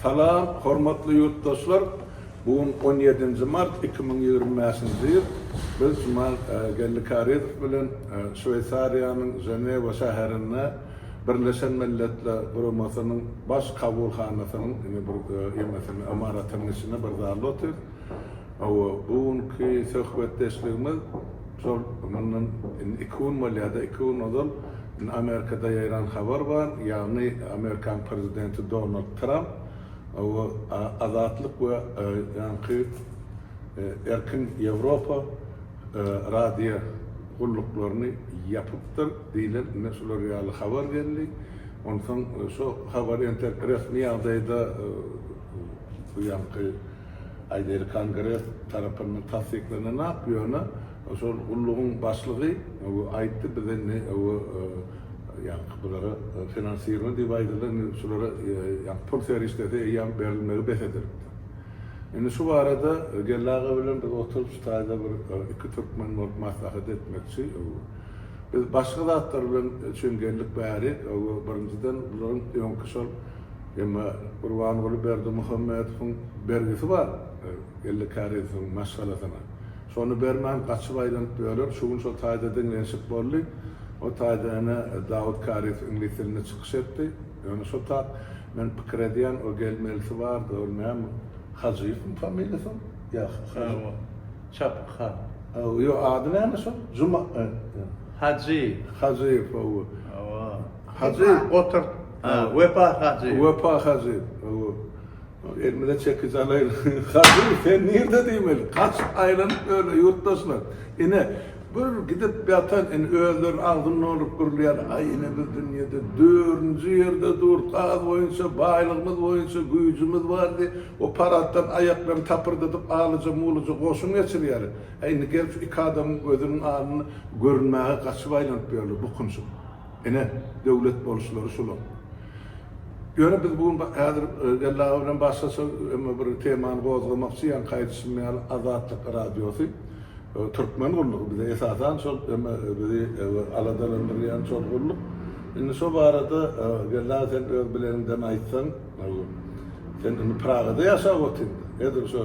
Salam, hormatly ýurtdaşlar! Bu gün on ýedinji mart iki müň ýigrimi bäşinji ýyl. Biz Juman Gellikaridow bilen Şweýsariýanyň Ženewa şäherinde Birleşen Milletler Guramasynyň Baş kabulhanasynyň indi bir emesini, ymaratynyň içinde bir zalda otyrys. Hawa, bu günki söhbetdeşligimiz şol mundan indi iki gün bolýar-da, iki gün ozal Indi Amerikada ýaýran habar bar, ýagny Amerikanyň prezidenti Donald Tramp we Azatlyk we ýaňky Erkin Ýewropa radio gulluklaryny ýapypdyr diýlen indi şular ýaly habar geldi. Onsoň şu habar entek resmi ýagdaýda bu ýaňky aýdaýly kongres tarapyndan tassyklananok, ýöne Şol gullugyň başlygy aýtdy, biz indi ýaňky bulara finansirowat diýip aýdyldy, indi şulara ýaňky pul serişdesi eýýäm berilmegi bes edilipdir. Indi şu barada geldi aga bilen biz oturyp şu taýda bir iki türkmen bolup maslahat etmekçi. Biz başga zatlar bilen üçin geldik bärik. Birinjiden bularyň öňki şol emma Gurbanguly Berdimuhamedowyň bergisi bar, elli käreziniň maşgalasyna. Şony bermän, gaçyp aýlanyp ýörer. Şu gün şol taýda deňlenişik boldy. O taýda ene Dawut Karis iňlis dilinde çykyş etdi. Ýöne şo tap men pikir edýän, o gelmelisi bar, dogry näme? Hajyýewmi familiýasy onuň? Ýa, Hajy. Hawa. Çapyk han. Hawa, ýok, ady näme şol? Juma, e. Hajyýew. Hajyýew, hawa. Hawa. Hajyýew, oturt. Wepa Hajyýew. Wepa Hajyýew, hawa. Elimize çekiç alaýyň. Kadyr, sen nirde diýmeli? Gaçyp aýlanyp öle, ýurtdaşlar. Ine, bir gidip ýatan, indi özleri agzyn nolup gürleýän, Aý, ine biz dünýede dördünji ýerde dur, gaz boýunça, baýlygymyz boýunça, güýjümiz bar diýip, o paratdan aýaklaryny tapyrdadyp, alyja-mulyja goşun geçirýäler. Hä, indi gelip şu iki adamyň gözüniň alnynda görünmäge gaçyp aýlanyp ýörler, bukunjyk. Ine, döwlet boluşlary şular. Ýöne biz bu gün häzir Geldi-aga bilen başgaça emma bir temany gozgamakçy, ýa aýdyşym ýaly, Azatlyk Radiosy, türkmen gullugy bize esasan şol emma bizi aladalandyrýan şol gulluk. Indi şo barada Geldi-aga sen öz bileniňden aýtsaň, sen indi Pragada ýaşap otyrsyň. Edil şo.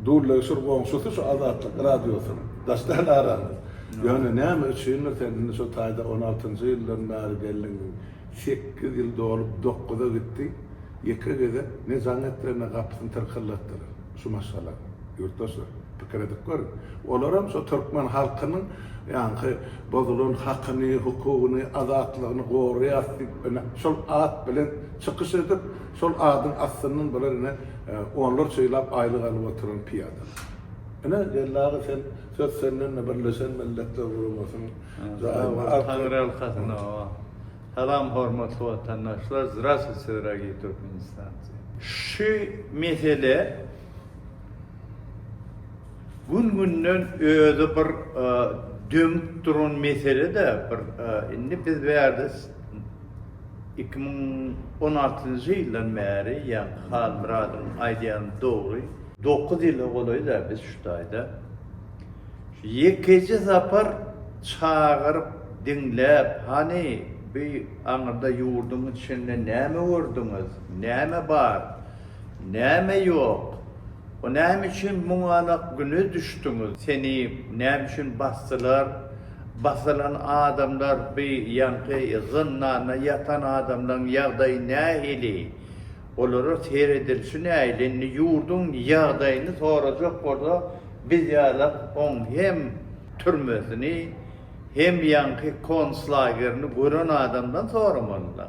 Dully şur goňşusy şu Azatlyk radiosynyň. Daşdan aramyz. Ýöne näme üçindir sen indi şo taýda on altynjy ýyldan bäri geldiňmi? Sekiz ýyl dolup dokuza gitdi. Ýeke gezek ne jaň etdiler ne gapysyny tyrkyldatdylar şu maşgalanyň. Ýurtdaşlar pikir edip görüň. Olaram şo türkmen halkynyň ýaňky bozulan hakyny, hukugyny, azatlygyny goraýas diýip ine şol at bilen çykyş edip Şol adyň astyndan bular ine onlarça ýyllap aýlyk alyp oturan pyýadalar. Ine, Geldi aga sen söz senden-de Birleşen Milletler Guramasynyň zaýymy al. Taňryýalkasyn oba. Salam hormatly watandaşlar, Zdravstvuyte dragiý Türkmenistanci. Şu mesele gün günden özi bir dömüp duran mesele-de bir indi biz bärde Iki müň on altynjy ýyldan bäri ýaňky Halmyradyň aýdýany dogry. Dokuz ýyla golaýda biz şu taýda şu ýekeje sapar çagyryp diňläp hany bu aňyrda ýurduň içinde näme gördüňiz, näme bar, näme ýok, o näme üçin muňalak güne düşdüňiz, seni näme üçin basdylar, Basylan adamlar by ýaňky zyndanda ýatan adamlaryň ýagdaýy nähili? Olara seredilşi nähili? Indi ýurduň ýagdaýyny sorajak bolsa biz ýalak oň hem türmesini hem ýaňky konslagerini gören adamdan soramalyda.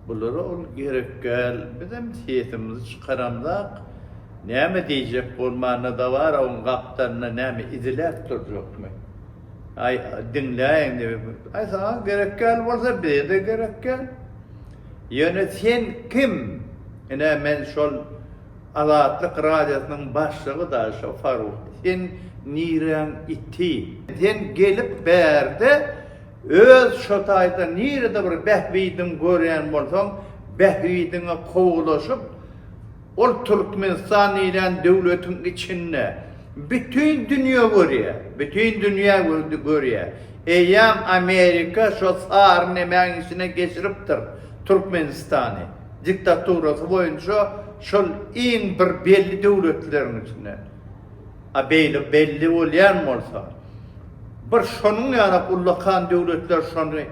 Bulara ol gerekgäl bizem sesimizi çykaramzak näme diýjek bolmanda dabara oň gapdalynda näme iziläp durjakmy? Aý, diňläýiň diýip, aý saňa gerekgäl bolsa bize-de gerekgäl. Ýöne sen kim? Ine men şol Azatlyk radiosynyň başlygy dagy şo Faruk. Sen niräň iti? Sen gelip bärde öz şo taýda nirede bir bähbidiň görýän bolsaň, bähbidiňe kowulaşyp, Ol Türkmenistan diýlen döwletiň içinde bütin dünýe görýär. Bütin dünýä görýär. Eýýäm Amerika şo sary nemäň içine geçiripdir Türkmenistany. Diktaturasy boýunça şol iň bir belli döwletleriň içinde. A beýle belli bolýan bolsa, bir şonuň ýaly ullakan döwletler şony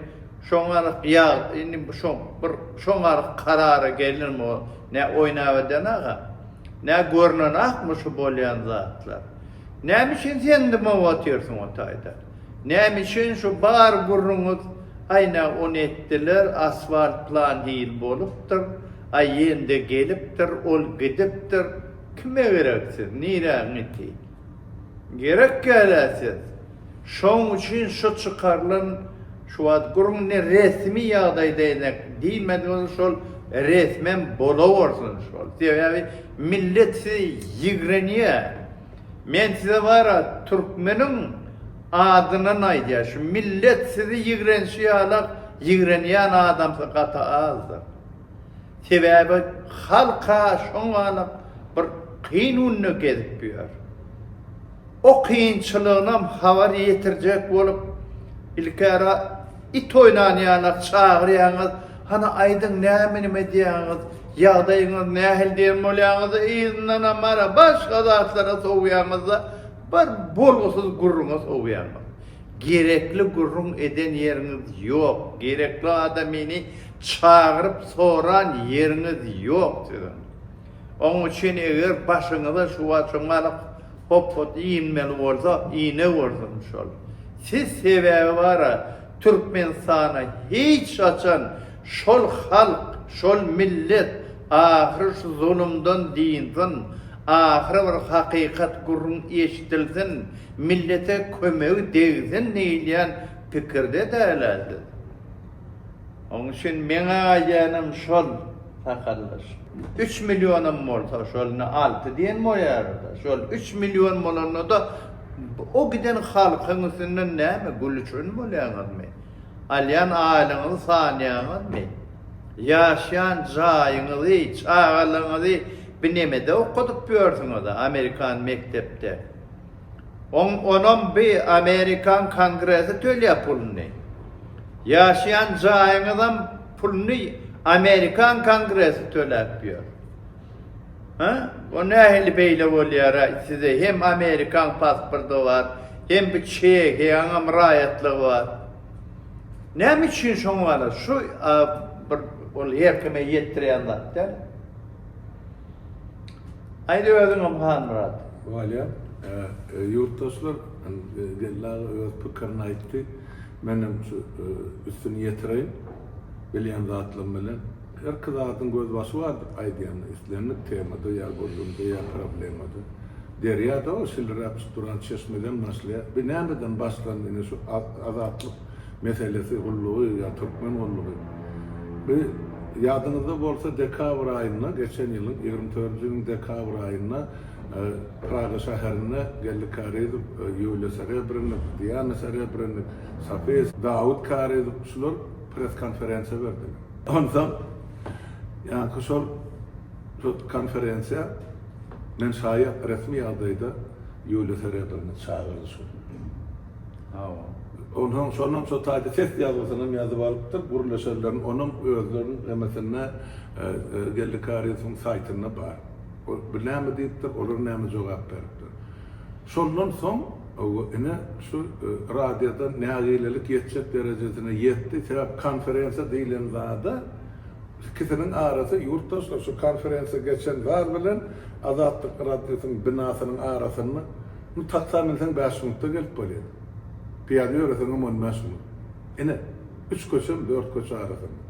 şoňa ýaly indi şo bir şoňa ýaly karara gelirmi? Nä oýnap eden aga? Nä görnenakmy şu bolýan zatlar? Näme üçin sen dymyp otyrsyň o taýda? Näme üçin şu bar gürrüňiz, Aý nä ony etdiler, asfalt plan hil bolupdyr, aý ýende gelipdir, ol gidipdir, kime gerek siz, niräň iti? Gerek ýa-da siz? Şoň üçin şu çykarylan şu wagt gürrüň ne resmi ýagdaýda ene diýmedi bolsa şol resmem bolawersin şol sebäbi millet sizi ýigrenýä men size bara türkmeniň adyndan aýdýa şu millet sizi ýigrenşi ýalak ýigrenýän adamsy gaty azdyr sebäbi halka şoňalak bir kyn günde gezip ýör. O kynçylygynam habar ýetirjek bolup, ilkära it oýnanýana çagyrýaňyz, hany aýdyň näme nime edýäňiz, ýagdaýyňyz nähili diýen bolýaňyz-da yzyndanam bara başga zatlara sowýaňyz-da bir bolgusyz gürrüňe sowýaňyz. Gerekli gürrüň eden ýeriňiz ýok, gerekli adamyny çagyryp soran ýeriňiz ýok siziň. Oň üçin eger başyňyza şu waçan galyk hopbat inmeli bolsa, ine görsün şol. Siz sebäbi bara Türkmenistana hiç haçan şol halk, şol millet ahyry şu zulumdan dynsyn, ahyry bir hakykat gürrüň eşdilsin, millete kömegi degsin diýilýän pikirde dälä siz. Oň üçin meňe aýdaýanam şol sakaldaş. Üç millionam bolsa şol indi alty diýen boýarda. Şol üç million bolanda-da o giden halkyň üstünden näme gülüşen bolýaňyzmy? Alýan aýlygyňyzy sanýaňyzmy? Ýaşaýan jaýyňyzy, çagalaryňyzy binemede okadyp ýörsüňiz-ä amerikan mekdepde. Oň onam bi amerikan kongresi tölýä puluny. Ýaşaýan jaýyňyzam puluny amerikan kongresi töläp ýör. Hä? O nähili beýle bolýara size hem amerikan pasporty bar, hem bi çehiýaňam raýatlygy bar. Näme üçin şoň bar? Şu bir ol her kime ýetdirýän zat däl. Aýt özüňem Halmyrat. Waliýa, ýurtdaşlar Geldi aga öz pikirini aýtdy. Menem şu üstüni ýetireýin. Bilýän zatlarym bilen. Herki zadyň gözbaşy bardyr aýdýanda. Islendik temada ýa gürrüňde ýa problemada. Derýa-da o şiliräp çyk duran çeşmeden başlaýar. Bir nämeden başlandy ine şu Azatlyk. meselesi gullugy ýa türkmen gullugy bi ýadyňyzda bolsa dekabr aýynda geçen ýylyň ýigrimi dördünji ýylyň dekabr aýynda Praga şäherinde Geldi Karyzow Ýuliýa Serebrennik Diana Serebrennik Safis Dawid Karyzow şular press konferensiýa berdi onsoň ýaňky şol şo konferensiýa men şaýat resmi ýagdaýda Ýuliýa Serebrennik çagyrdy şo. Hawa. Onsoň şonam şo taýda test ýazgysynam ýazyp alypdyr. Gürleşenleriň onam özleriniň hemesinde Geldi Karimsowyň saýtynda bar. Bu näme diýipdir, olar näme jogap beripdir. Şondan soň ine şu radioda nägilelik ýetjek derejesine ýetdi. Sebäp konferensiýa diýlen zada ikisiniň arasy ýurtdaşlar şu konferensiýa geçen zat bilen Azatlyk radiosynyň binasynyň arasynda Indi taksa münseň bäş minutda gelip bolýar. Pyýada ýöreseňem on bäş minut. Ine, üç köçem, dört köçe arasynda.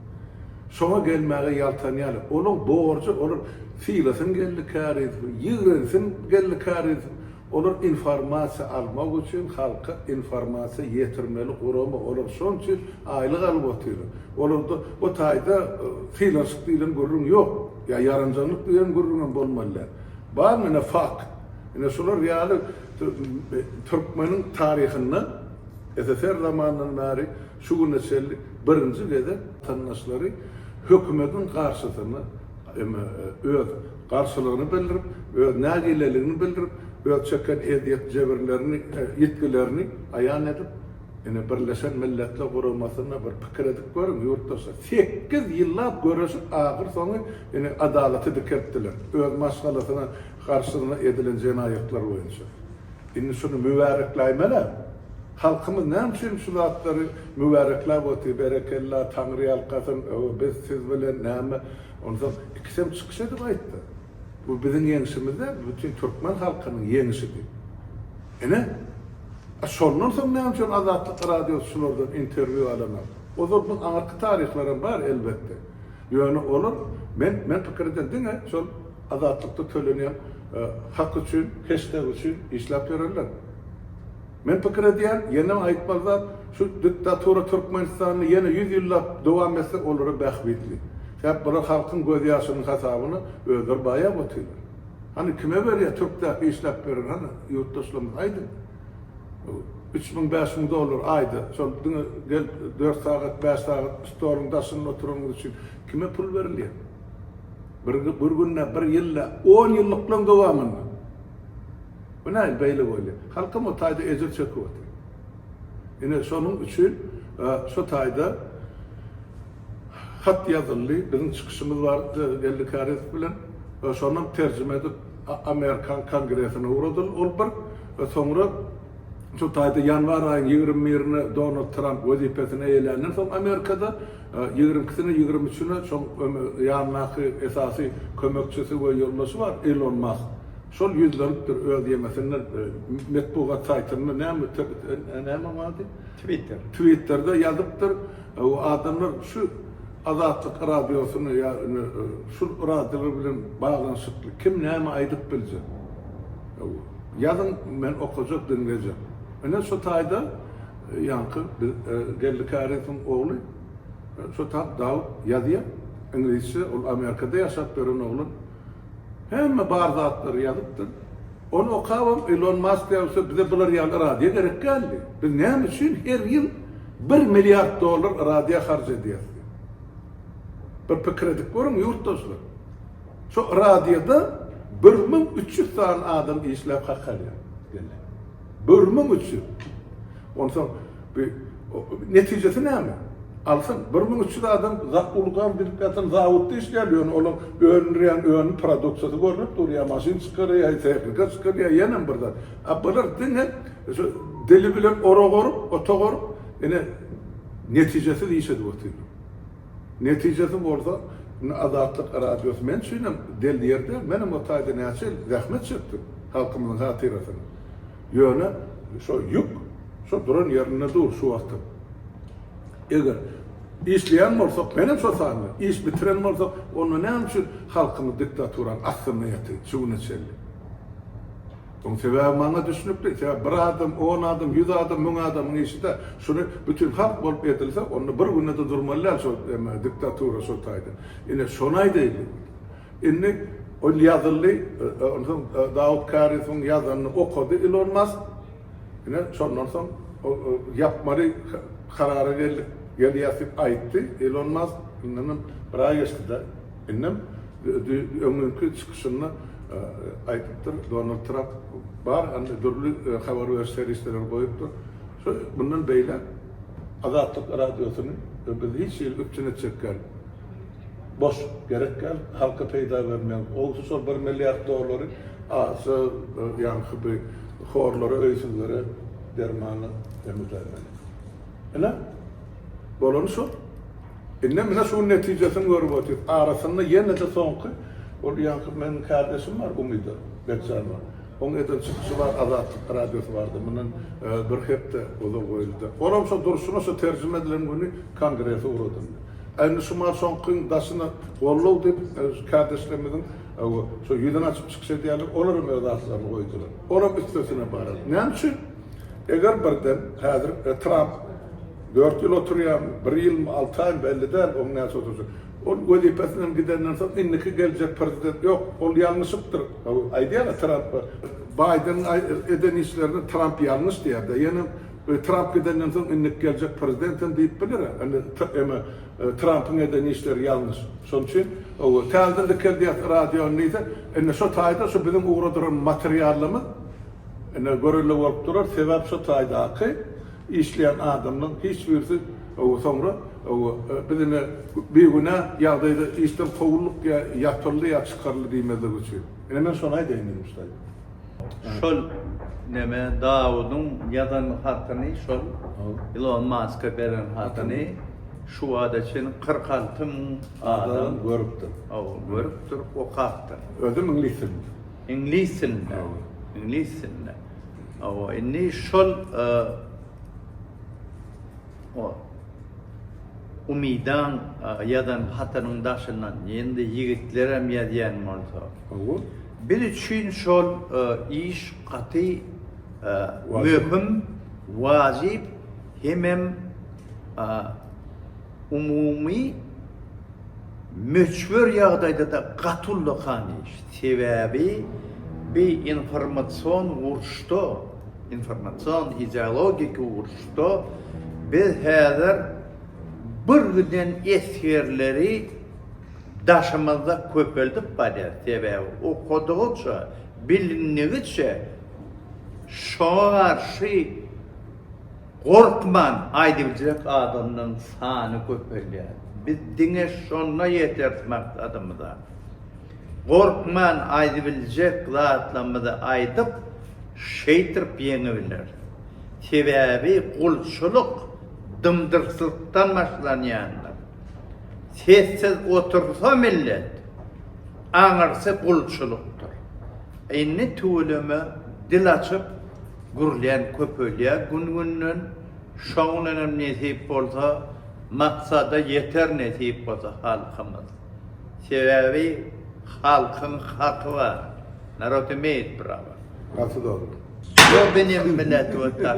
Şoňa gelmäge ýaltanýarlar. Olaň borjy, olar sylasyn geldi käriz, ýigrensin geldi käriz. Olar informasiýa almak üçin halka informasiýa ýetirmeli gurama. Olar şonuň üçin aýlyk alyp otyrlar. Olarda o taýda sylanşyk diýlen gürrüň ýok. Ýa ýaranjaňlyk diýen gürrüňem bolmaly däl. Bar menä fakt. Ine şular ýaly türkmeniň taryhynda SSR zamanyndan bäri şu güne çenli birinji gezek watandaşlary hökümetiň garşysyna öz garşylygyny bildirip, öz nägileligini bildirip, öz çeken ezýet-jebirlerini, ýitgilerini aýan edip, ine Birleşen Milletler Guramasyna bir pikir edip görüň, ýurtdaşlar, sekiz ýyllap göreşip, ahyr soňy ine adalaty dikeltdiler. Öz maşgalasyna. garşysyna edilen jenaýatlar boýunça. Indi şuny mübärekläýmel-ä. Halkymyz näme üçin şu zatlary mübärekläp otyr, berekella, taňryýalkasyn, öo, biz siz bilen, näme, onsoň ikisem çykyş edip aýtdy. Bu biziň ýeňşimiz däl, bu bütin türkmen halkynyň ýeňşi diýip. Ine, a şondan soň näme üçin Azatlyk Radiosy şulardan interwýu alanok? Ozal bu aňyrky taryhlaram bar, elbetde. Ýöne olar, men, men pikirden diňe şol, Azatlykda tölenýän hak üçin, heştag üçin işläp ýörerler. Men pikir edýän, ýene aýtmaly zat, şu diktatura Türkmenistanda ýene ýüz ýyllap dowam etse, olara bähbitli. Sebäp bular halkyň göz ýaşynyň hasabyna özleri baýap otyrlar. Hany kime berýär türkdäki işläp beren hany ýurtdaşlarymyz aýdyň. Üç müň bäş müň dollar aýda şol diňe gelip dört sagat bäş sagat stoluň daşynda oturanyňyz üçin kime pul berilýär. Bir bir günde, bir ýylda, on ýyllyklaň dowamynda. Bu näme beýle bolýar? Halkym o taýda ejir çekip otyr. Ine şonuň üçin şu taýda hat ýazyldy. Biziň çykyşymyz bar Geldi Kärizow bilen. Şonam terjime edip Amerikan kongresine ugradyl. Ol bir soňra şu taýda ýanwar aýyň ýigrimi birine Donald Tramp wezipesini eýeländen soň Amerikada Ýigrimkisine, ýigrimi üçüne şol ýanyndaky esasy kömekçisi we ýoldaşy bar Elon Mask. Şol ýüzlenipdir öz ýemesinde, metbugat saýtynda, näme näme onuň ady? Twitter. Twitterde ýazypdyr. Adamlar şu Azatlyk radiosyny ýa indi şul radiolar bilen baglanyşykly kim näme aýdyp biljek? Ýazyň, men okajak, diňlejek. Ine şu taýda. Ýaňky biz Geldi Käriňsiň ogly şo tap Dawut ýazýa iňlisçe ol Amerikada ýaşap ýören oglan hemme bar zatlary ýazypdyr ony okabam Elon Mask ýalysa bize bular ýaly radio gerek däldi biz näme üçin her ýyl bir milliard dollar radio harç edýäs diýip bir pikir edip görüň ýurtdaşlar şo radioda bir müň üç ýüz sany adam işläp hak alýar. Görmek üçin. Onsoň bi netijesi näme? Alsyn, bir müň üç ýüz adam zak ulgam bilip ýatan zawodda işleýär, ýöne olaň öndürýän önüm produksiýasy görnüp dur, ýa maşyn çykarýar, ýa tehnika çykarýar, ýenem bir zat. A bular diňe şu dili bilen orag orup, otag orup, ine, netijesiz iş edip otyrlar. Netijesi bolsa, indi Azatlyk Radiosy men üçin hem del ýer däl. Men hem o taýda näçe ýyl zähmet çekdim halkymyzyň hatyrasyna. Ýöne şo ýük şo duran ýerinde dur şu wagtam. Eger işleýän bolsak, men hem şo sanda, iş bitiren bolsak, onda näme üçin halkymyz diktaturanyň astynda ýatyr şu güne çenli? Oň sebäbi maňa düşnükli. Sebäbi bir adam, on adam, ýüz adam, müň adamyň işi-dä. Şuny bütin halk bolup edilse, onda bir günde-de durmaly däl şol näme, diktatura şol taýdan. Ine, şony aýdaýlyň. Indi ol ýazyldy, onsoň Dawut Kari soň ýazanyny okady Ilon Mask. Ine, şondan soň ol ýapmaly karara geldik. Gelýäs diýip aýtdy Ilon Mask. Indi bir aý geçdi-dä. Indem öňňinki çykyşynda aýdypdyr, Donald Tramp bar dürli habar beriş serişdeleri goýupdyr. Şu mundan beýläk Azatlyk Radiosyny biz hiç hili üpjün etjek däl. Boş, gerek däl, halka peýda bermeýän. Owsi şol bir milliard dollary aça ýaňky bi horlara, öýsüzlere dermana emizläýmeli. Ine, bolany şol. Indi mine şuň netijesini görüp otyr. Arasynda ýene-de soňky ol ýaňky meniň kärdeşim bar Umida Bekjanowa. Oň eden çykyşy bar Azatlyk radiosy bardy mundan bir hepde ozal goýuldy. Olam şo durşuna şo terjime edilen güni kongrese ugradyldy. A indi şu maňa soňkyň daşyna goldaw diýip kärdeşlerimiziň şo ýüzüni açyp çykyş edýärler olaram öz atlaryny goýdular. Olam üstesine bararys. Näme üçin? Eger birden häzir Tramp. Dört ýyl oturýarmy, bir ýylmy, alty aýmy belli däl, oň näçe oturşy. Ol wezipesinden gidenden soň indiki geljek prezident ýok, ol ýalňyşypdyr. Aýdýarlar Trampa, Baýdeniň eden işlerine Tramp ýalňyş diýýärdi. Ýöne Tramp gidenden soň indiki geljek prezident hem diýip biler. Emma Trampyň eden işleri ýalňyş. Şonuň üçin täzeden dikeldýär radiony diýse, indi şo taýda şu biziň ugradyran materialymyz indi görelde bolup durar. Sebäp şo taýdaky Işleýän adamlaň hiç birisi owo soňra owo biz ine bigünä ýagdaýda işden kowuldyk ýa ýapyldy ýa çykaryldy diýmezlik üçin. Ine men şony aýdaýyn diýdim ştaýpa. Şol neme Dawudyň ýazan hatyny şol Ilon Maska beren hatyny şu wagta çenli kyrk alty müň adam görüpdir. Owo görüpdir, okapdyr. Özem iňlis dilinde. Iňlis dilinde. Owo. Iňlis dilinde. Hawa, indi şol Umydaň ýazan hatynyň daşyndan indi ýigitlerem ýazýan bolsa. Hawa. Biz üçin şol iş gaty möhüm, wajyp hemem Umumy möçber ýagdaýda-da gaty ullakan iş. Sebäbi bi informasion uruşda, informasion ideologik uruşda biz häzir bir giden esgerleri daşymyzda köpeldip barýas. Sebäbi okadygyça, bilindigiçe şoňa garşy. Gorkman aýdybiljek adamlaryň sany köpelýär. Biz diňe şonda ýeteris maksadymyza. Gorkman aýdybiljek zatlarymyzy aýdyp, şeýtirip ýeňibileris. Sebäbi gulçulyk dymdyrtlykdan başlanýandyr. Sessiz otursa millet, aňyrsy gulçulykdyr. Indi tüweleme dil açyp, Gürlän köpelýär gün-günden, şoň bilenem nesip bolsa maksada ýeter nesip bolsa halkymyz. Sebäbi halkyň haky bar. Narod imeýt prava. Gaty dogry. Yo benim millet вот tak.